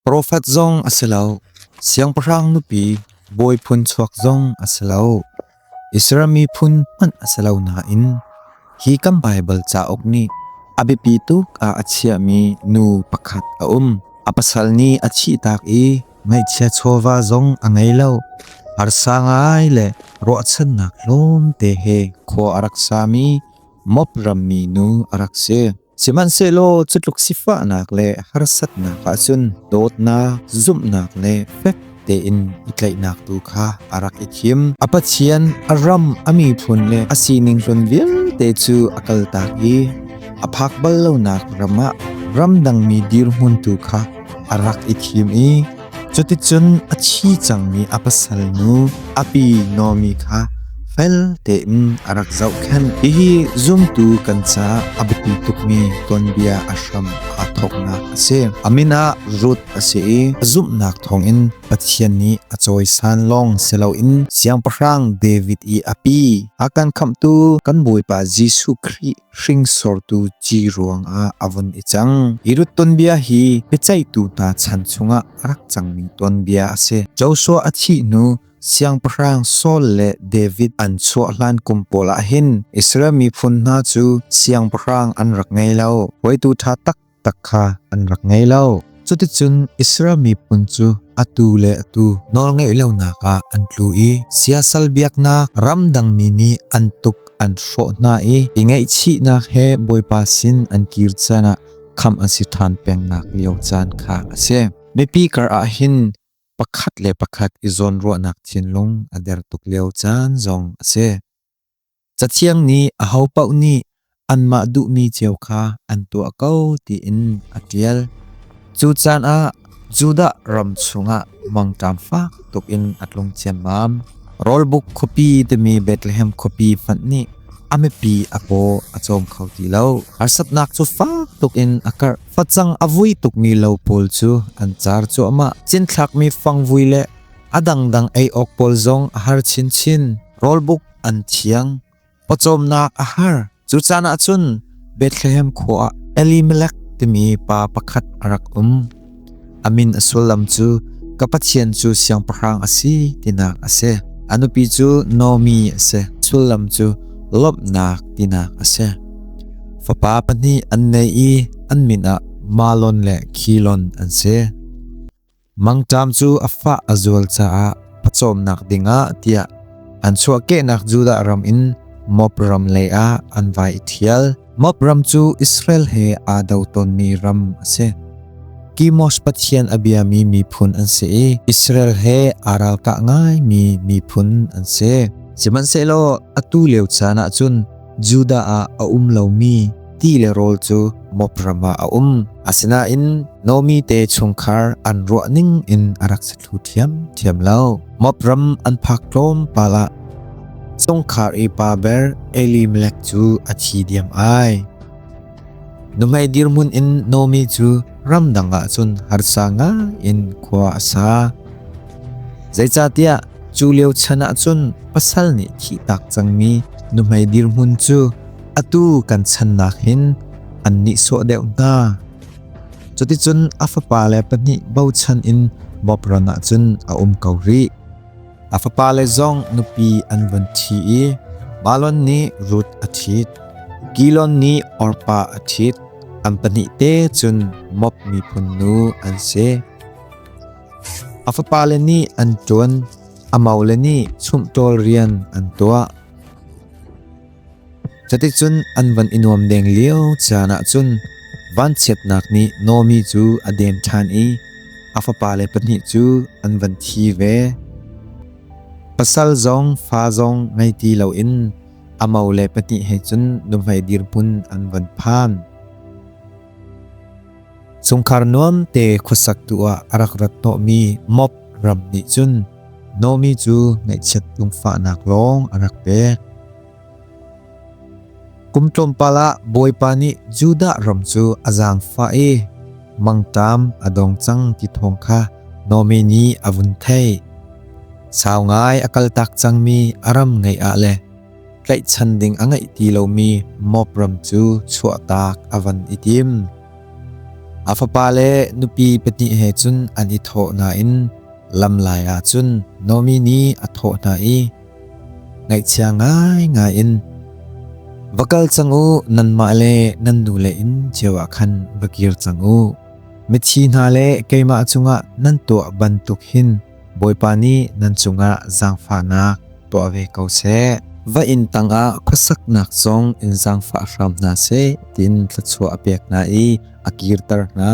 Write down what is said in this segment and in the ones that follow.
Profet zong a si lo, siangpahrang nupi, bawi phun chuak zong a si lo, Israel miphun hmanh a si lo nain hi kan Baibal cauk nih a biapi tuk ah a chiahmi nu pakhat a um. A pasal nih a thihtak i ngaihchia chawva zong a ngei lo. Harsa ngai le ruahchannak tlawmte he khua a rak sami mop rammi nu a rak si. Sihmanhsehlaw cutluk sifahnak le harsatnak ahcun dawtnak, zumhnak le fek tein i tlaihnak tu kha a rak i thim. A Pathian a ram, a miphun le a sining hlun vialte cu a kaltak i a phak bal lonak ram ah ramdangmi dirhmun tu kha a rak i thim i Cuticun a thi cangmi a pasal nu api Nomi kha fel tein a rak zohkhenh. Hihi zumtu kan ca a biapi tukmi tuanbia a hram aa thawknak a si. A min ah Ruth a si i a zumhnak thawngin Pathian nih a cawisan lawng si loin Siangpahrang David i a pi, Hakan khamhtu kan Bawipa Jesuh Khrih hringsortu ci ruangah a vun i cang. Irut tonbia hi biaceihtu hna chan chungah a rak cangmi tonbia a si. Joshua a thih hnu Siangpahrang Saul le David an chuah hlan kum pawl ah hin Israel miphun hna cu siangpahrang an rak ngei lo. Hruaitu ṭha tak tak kha an rak ngei lo. Cuticun Israel miphun cu atu le atu nawlngeih lonak ah an tlu i siasal biaknak ramdangmi nih an tuk an hrawh hna i i ngaihchihnak he Bawipa sin an kir caan ah khamh an si ṭhan pengnak lio caan kha a si. Mipi kar ah hin pakhat le pakhat i zawnruahnak thinlung a der tuk lio caan zong a si. Cathiang nih ahopaoh nih anmah duhmi cio kha an tuah ko tiin a ṭial. Cu caan ah Judah ram chungah mangṭam fak tuk in a tlung ciammam. Rawlbuk khuapi timi Bethlehem khuapi hmanh nih a mipi a paw a cawm kho ti lo. Harsatnak cu fak tuk in a karh. Facang a vui tukmi lo pawl cu an car cuahmah. Cinthlakmi fangvui le a dangdang ei awk pawl zong a har chinchin. Rawlbuk an thiang. Pawcawmnak a har. Cu caan ah cun Bethlehem khua ah Elimelek timi pa pakhat a rak um. A min a sullam cu ka Pathian cu siangpahrang a si tinak a si. A nupi cu Nomi a si. Sullam cu lawmhnak tinak a si. Fapa pahnih an nei i an min ah Malon le Khilon an si. mangṭam cu a fah a zual caah pawcawmnak dingah tiah an chuahkehnak Judah ram in Moab ram leiah an vai i ṭhial. Moab ram cu Israel he aa do tawnmi ram a si. Kimosh pathian a biami miphun an si i Israel he aa ralkah ngaimi miphun an si. Sihmanhsehlaw atu lio caan ah cun Judah ah a um lomi ti le rawl cu Moab ram ah a um. Asinain Nomi te chungkhar an ruah ning in a rak si thlu ṭhiamṭhiam lo. Moab ram an phak tlawmpal ah sungkhar i pa ber Elimelek cu a thi diam ai. Numai dirmun in nomi cu ramdang ah cun harsa nga in khua a sa. Zeicatiah cu lio chan ah cun pasal nih thih tak cangmi numai dirmun cu atu kan channak hin an nihsawh deuh hna. Cuticun a fapa le pahnih bochan in Bobron ah cun a um ko rih. A fapale zong nupi an vun thi i Balon nih Ruth a thit. Gilon nih Orpa a thit. An pahnih te cun Moab miphun nu an si. A fapale nih an ṭuan. A maule nih chumhṭawl rian an tuah. Cuticun an van i nuam deng lio caan ah cun vanchiatnak nih Naomi cu a dem ṭhan i a fapale pahnih cu an van thi ve. Pasal zong fa zong ngei ti loin a mo le pahnih he cun nuhmei dirhmun an van phan. Chungkhar nuam te khuasak tu ah a rak rat hnawh mi mop ram nih cun Nomi cu ngaihchiat lungfahnak lawng a rak pek. Kum tlawmpal ah Bawipa nih Judah ram cu a zaangfah i mangtam a dong cang ti thawng kha Nomi nih a vun theih. Sau ngai a kaltak cangmi a ram ngei ah le tlaihchan ding a ngei ti lomi mop ram cu chuahtak a van i tim. A fapa le nupi pahnih he cun an i thawh nain lam lai ah cun Nomi nih a thawh hna i, ngaihchia ngai ngai in va kal cang u nanmah le nan nule in cio ah khan va kir cang u mithi hna le keimah cungah nan tuah bantuk hin Bawipa nih nan cungah zaangfahnak tuah ve ko seh. Va inn tangah khuasaknak zong in zaangfah hram hna seh tiin thluachuah a pek hna i a kirter hna.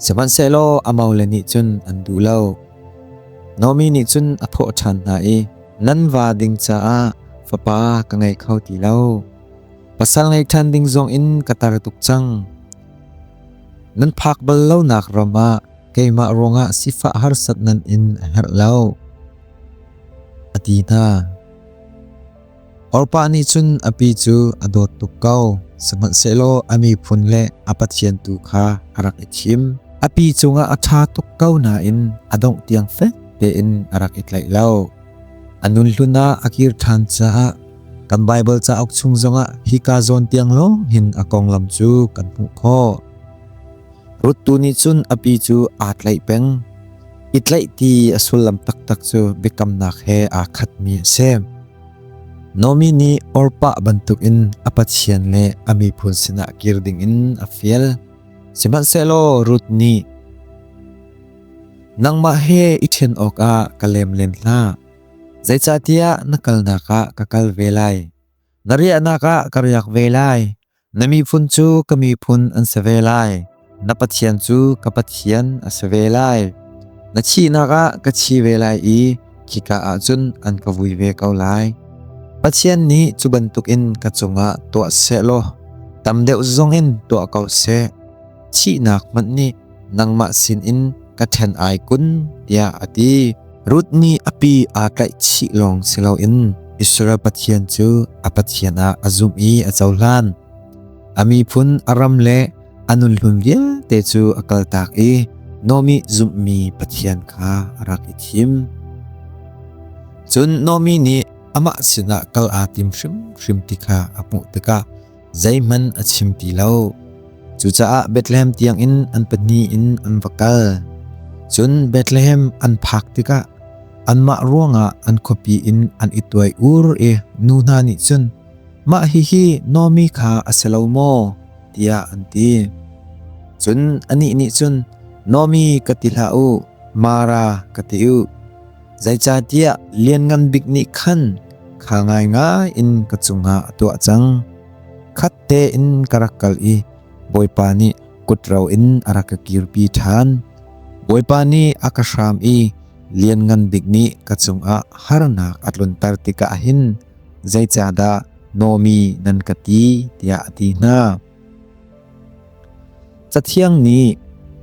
Sihmanhsehlaw amau le nih cun an duh lo. Nomi nih cun a thawh ṭhan hna i, Nan va ding caah fapa ka ngei kho ti lo. Pasal ngei ṭhan ding zong in ka tar tuk cang. Nan phak bal lonak ram ah keimah ruangah sifah harsat nan in a herh lo, a ti hna. Orpa nih cun a pi cu a dawt tuk ko, sihmanhsehlaw a miphun le a pathian tu kha a rak i thim. A pi cungah a ṭha tuk ko nain a dongh tiang fek tein a rak i tlaih lo. A nun hlun ah a kir ṭhan caah kan Baibal cauk chung zongah hika zawn tiang lawng hin a konglam cu kan hmuh khawh. Ruth tu nih cun a pi cu aa tlaih peng. I tlaih ti a sullam taktak cu biakamnak he aa khatmi a si. Naomi nih Orpah bantukin a pathian le a miphun sinah kir dingin a fial. Sihmanhsehlaw Ruth nih Nangmah he i ṭhen awkah ka lemlen hlah. Zeicahtiah na kalnak ah ka kal ve lai. Na riahnak ah ka riak ve lai. Na miphun cu ka miphun an si ve lai; na pathian cu ka pathian a si ve lai. Na thihnak ah ka thi ve lai i khika ah cun an ka vui ve ko lai. Pathian nih cu bantukin ka cungah tuah sehlaw tam deuh zongin tuah ko seh; thihnak hmanh nih nangmah sinin ka ṭhen ai kun tiah a ti. Ruth nih a pi aa tlaihchih lawng si loin Israel Pathian cu a Pathian ah a zumh i a cohlan. A miphun a ram le a nunhlun vialte cu a kaltak i Nomi zumhmi Pathian kha a rak i thim. Cun Nomi nih amah sinah kal aa tim hrimhrim ti kha a hmuh tikah zeihmanh a chim ti lo. Cucaah Bethlehem tiangin an pahnih in an va kal. Cun Bethlehem an phak tikah anmah ruangah an khuapi in an i tuai ur i nu hna nih cun mah hihi Nomi kha a si lo maw tiah an ti. Cun anih nih cun Nomi ka ti hlah u, Mara ka ti u. Zeicahtiah Lianngan Bik nih khan kha ngaingai in ka cungah a tuah cang. Khat tein ka rak kal i Bawipa nih kut ro in a rak ka kirpi ṭhan. Bawipa nih a ka hram i Lianngan Bik nih ka cungah harnak a tlunter tikah hin zeicahdah Nomi nan ka ti tiah a ti hna. Cathiang nih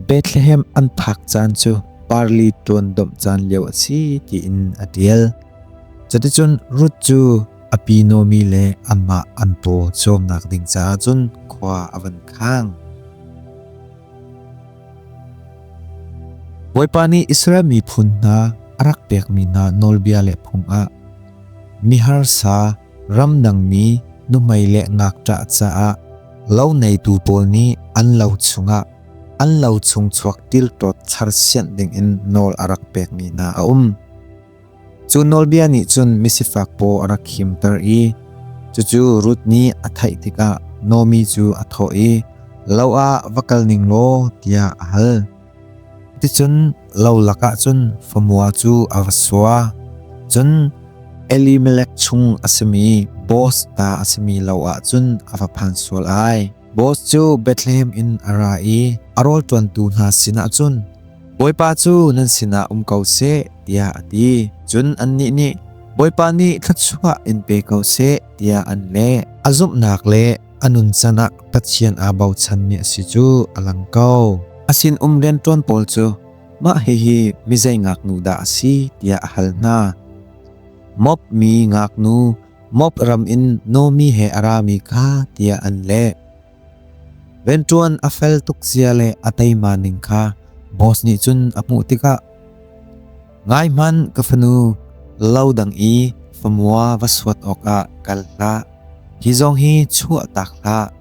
Bethlehem an phak caan cu parli ṭuan domh caan lio a si tiin a ṭial. Cuticun Ruth cu a pi Naomi le anmah an paw cawmnak ding caah cun khua a van khang. Bawipa nih Israel miphun hna a rak pekmi hna nawlbia le phung ah miharsa Ramnangmi nuhmei le ngakṭah caah lo neitu pawl nih an lo chungah an lo chung chuak tilṭawt thar sianh dingin nawl a rak pekmi hna a um. Cu nawlbia nih cun misifak paw a rak khimter i cucu Ruth nih a theih tikah Naomi cu a thawh i, Lo ah va kal ning law tiah a hal. Ticun lo lakah cun famua cu a va sua. Cun Elimelek chung a simi boss ta a simi lo ah cun a va phan sual ai. Boss cu Bethlehem in a ra i a rawlṭuantu hna sinah cun, Bawipa cu nan sinah um ko seh, tiah a ti. Cun annih nih, Bawipa nih thluachuah in pe ko seh, tiah an leh. A zumhnak le a nuncan ah Pathian aa bochanmi a si cu a lang ko. A sinum rianṭuan pawl cu mah hihi mizei ngaknu dah a si tiah a hal hna. Moab mi ngaknu Moab ram in Nomi he a rami kha tiah an leh. Venṭuan a fel tuk zia le a teima ning kha boss nih cun a hmuh tikah Ngai hman ka fanu lo dang i famua va suat awkah kal hlah. Hi zong hi chuah tak hlah.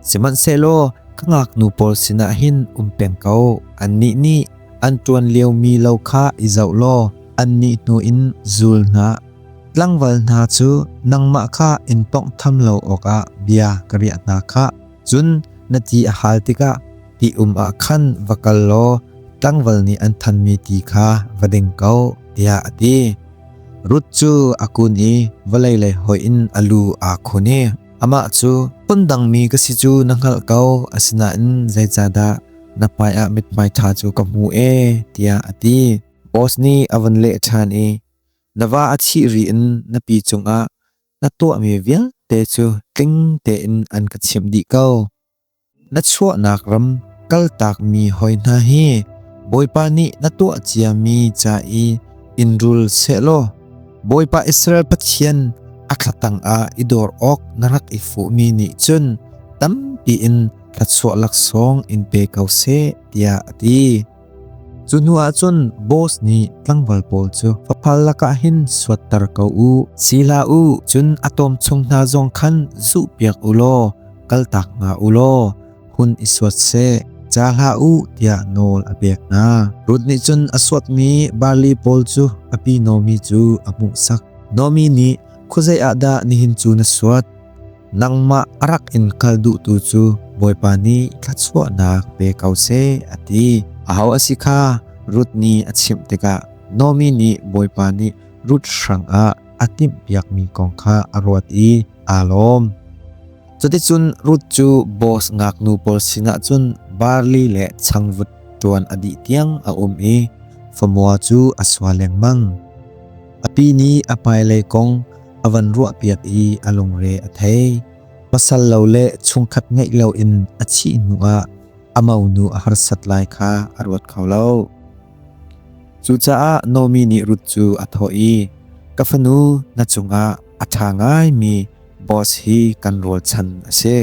Sihmanhsehlaw ka ngaknu pawl sinah hin um peng ko. Annih nih an ṭuan lio mi lo kha i zoh law annih hnu in zul hna. Tlangval hna cu nangmah kha in tawnghtham lo awkah bia ka riah hna khah. Cun na ti a hal tikah ti-um ah khan va kal law tlangval nih an thanmi ti kha va ding ko, tiah a ti. Ruth cu a kun i vawlei lei hoih in a lu aa khun i amah cu phun dangmi ka si cu na hngalh ko, asinain zeicahdah na hmaiah mithmai ṭha cu ka hmu ee, tiah a ti. Boaz nih a vun leh ṭhan i, Na va a thih ri in na pi cungah na tuahmi vialte cu tling tein an ka chimh dih ko. Na chuahnak ram kaltakmi hoi hna hi Bawipa nih na tuah ciami ca i in rul sehlaw Bawipa Israel Pathian a thlatang ah i dor awk na rak i fuhmi nih cun tampi in thluachuah laksawng in pe ko seh tiah a ti. Cu hnu ah cun boss nih tlangval pawl cu faphal lakah hin suatter ko u, sila u, cun a tawm chung hna zong khan zuhpiak u law kaltak nga u law hun i suat seh, ca hlah u tiah nawl a pek hna. Ruth nih cun a suatmi barli pawl cu a pi Naomi cu a hmuhsak. Naomi nih, Khuazei ah dah nihin cu na suat? nangmah a rak in kal duhtu cu Bawipa nih thluachuahnak pe ko seh, a ti. Aho a si kha Ruth nih a chimh tikah Naomi nih Bawipa nih Ruth hrangah a timhpiakmi kong kha a ruat i aa lawm. Cuticun Ruth cu boss ngaknu pawl sinah cun barli le changvut ṭuan a dih tiang a um i famua cu a sua lengmang. A pi nih a hmailei kong a van ruahpiak i a lungre a thei. Pasal lo le chungkhat ngeih loin a thih hnuah a monu a harsat lai kha a ruat kho lo. Cucaah Nomi nih Ruth cu a thawh i, Ka fanu na cungah a ṭha ngaimi boss hi kan rualchan a si.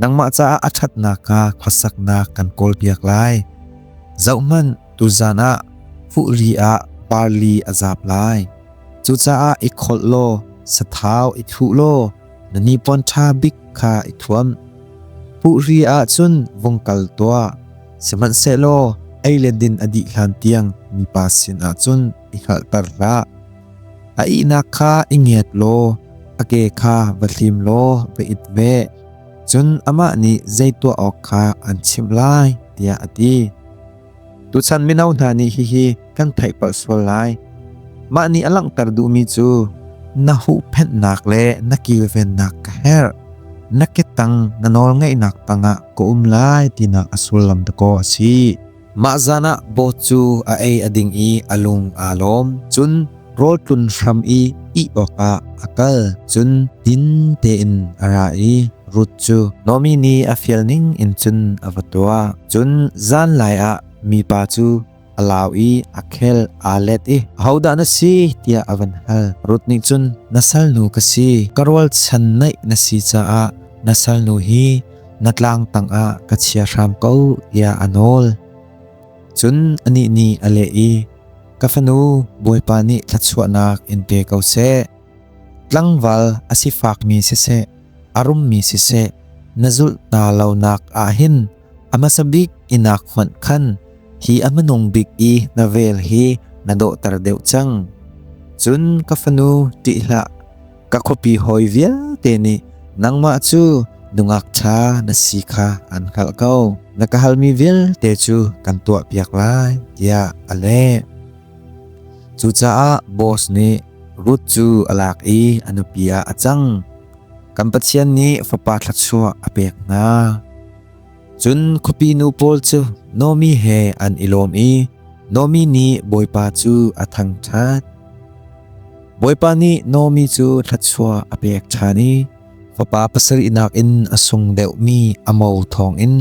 nangmah caah a ṭhatnak kha khuasaknak kan kawlpiak lai. Zohhmanh, tuzan ah fuhri ah barli a zap lai. Cucaah i kholh law sathau i thluh law na nipawn ṭha bik kha i thuam. Fuhri ah cun vung kal tuah, sihmanhsehlaw ei le din a dih hlan tiang mipa sinah cun i hngalhter hlah. A ihnak kha i ngiat law a ke kha va thlim law va it ve. Cun amah nih zei tuah awk kha an chimh lai, tiah a ti. Tuchan mino hna nih hihi kan theih palh sual lai. Mah nih a langhter duhmi cu na huhphenhnak le na kilvennak ka herh. Na ketang na nawlngeihnak tangah ka um lai tinak a sullam dakaw a si. Mah zanah boat cu a ei a ding i a lung aa lawm. Cun rawl tlun hram i ih awkah a kal. Cun din tein a ra i Ruth cu Naomi nih a fial ning in cun a va tuah. Cun zanlai ah mipa cu a lau i a khel aa let i, “Ahodah na si?” tiah a van hal. Ruth nih cun, “Na salnu ka si. Ka rualchan naih na si caah na salnu hi na tlang tangah ka chia hram ko tiah a nawl. Cun anih nih a leh i, Ka fanu Bawipa nih thluachuahnak in pe ko seh. Tlangval a si fakmi siseh, a rummi siseh, na zulh na lonak ah hin a hmasa bik inak hmanh khan hi a hmanung bik i na vel hi na dawhter deuh cang. Cun ka fanu ṭih hlah, ka khuapi hawi vialte nih nangmah cu nungak ṭha na si kha an hngalh ko na ka halmi vialte cu kan tuah piak lai tiah a leh cucaah boss nih Ruth cu a lak i a nupi ah a cang kan Pathian nih fapa thluachuah a pek hna Cun khuapi nu pawl cu Naomi he an i lawm i Naomi nih Bawipa cu a thangṭhat. Bawipa nih Naomi cu thluachuah a pek ṭhan i fapa pasarih nakin a sung deuhmi a mo thawngin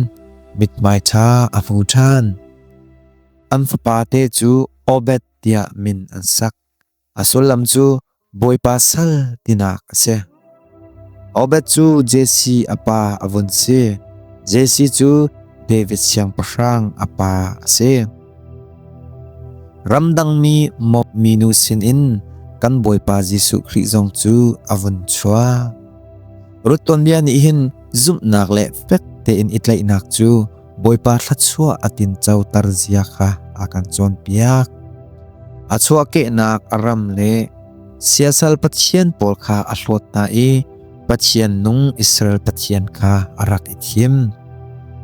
mithmai ṭha a hmu ṭhan. An fapate cu Obed tiah min an sak. A sullam cu Bawipa sal tinak a si. Obed cu Jesse a pa a vun si. Jesse cu David siangpahrang a pa a si. Ramdangmi mob minu sinin kan Bawipa Jesuh Khrih zong cu a vun chuak. Rut tuanbia nih hin zumhnak le fek tein i tlaihnak cu Bawipa thluachuah a tinco tar zia kha a kan cawnpiak. A chuahkehnak a ram le siasal pathian pawl kha a hlawt hna i Pathian nung Israel Pathian kha a rak i thim.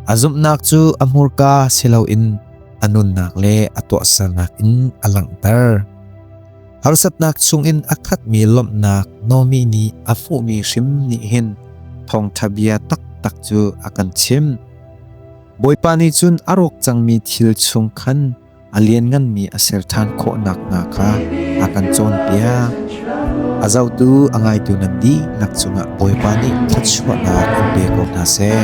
A zumhnak cu a hmurka si loin a nunnak le a tuahsernak in a langhter. Harsatnak chungin a khatmi lawmhnak Naomi nih a fuhmi hrim nih hin thawngṭha bia taktak cu a kan chimh. Bawipa nih cun a rawk cangmi thil chung khan a liannganmi a ser ṭhan khawh nakhnga kha a kan cawnpiak. A zotu a ngaitu nan dihlak cungah Bawipa nih thluachuahnak in pe ko hna seh.